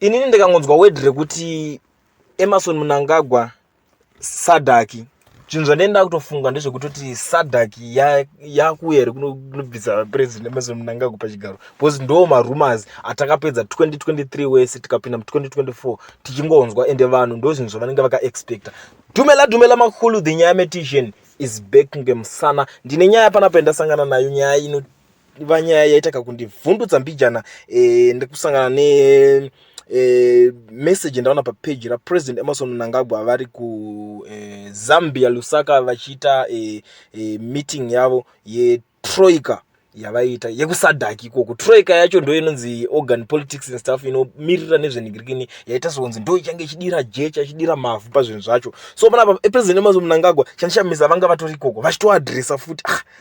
inini ndikangonzwa word rekuti emerson munangagwa sadaki zvinhu zvandaini ndakutofunga ndezvekutoti sadak yakuuya here kunobvisa president emerson munangagwa pachigaro because ndoo marumors atakapedza 2023 wese tikapinda mu2024 tichingonzwa ende vanhu ndo zvinhu zvavanenge vakaexpecta dumela dumela makulu the nyaya metician is back ngemusana ndine nyaya panapa yandasangana nayo nyaya ino vaiva nyaya yaita kakundivhundutsa mbijana e, nekusangana ne e, message ndaona papeji rapresident emerson mnangagwa vari kuzambia e, lusaka vachiita e, e, meeting yavo yetroika yavaiita yekusadhaki ikoko troika yacho ndo inonzi organ politics and stuff inomirira nezvenigirikini yaita sekunzi ndo ichange ichidira jecha ichidira mavhu pazvinhu zvacho so panapa epresident emazo munangagwa chandishamisa vanga vatori ikoko vachitoadressa futi ah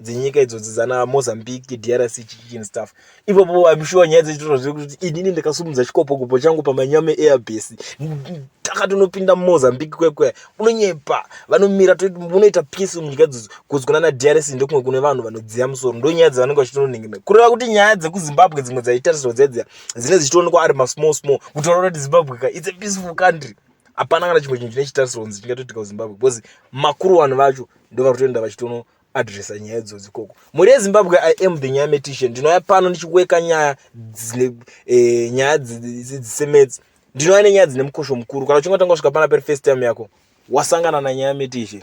dzenyika idzodzi dzana mozambique drc chichichini stuff ipopo im sure nyaya dzechitoro zve kuti inini ndakasumudza chikopokopo changu pamanyame airbase takatonopinda mumozambique kwekwe unonyepa vanomira unoita peace munyika dzodzo kuzi kuna na drc ndokumwe kune vanhu vanodziya musoro ndo nyaya dzavanenge vachitononengemera kureva kuti nyaya dzekuzimbabwe dzimwe dzaitarisirwa dziya dziya dzine dzichitoonekwa ari masmall small kutaura kuti zimbabwe ka its a peaceful country hapana kana chimwe chinhu chine chitarisiro kunzi chingatoitika kuzimbabwe because makuru vanhu vacho ndovari kutoenda vachitono adressa nyaya idzodzi ikoko mhuri yezimbabwe i am the nyaya metishe ndinouya pano ndichiweka nyaya dzine eh, nyaya dzisemedzi ndinouya nenyaya dzine mukosho mukuru kana uchingatanga kusvika pana peri first time yako wasangana nanyaya metishe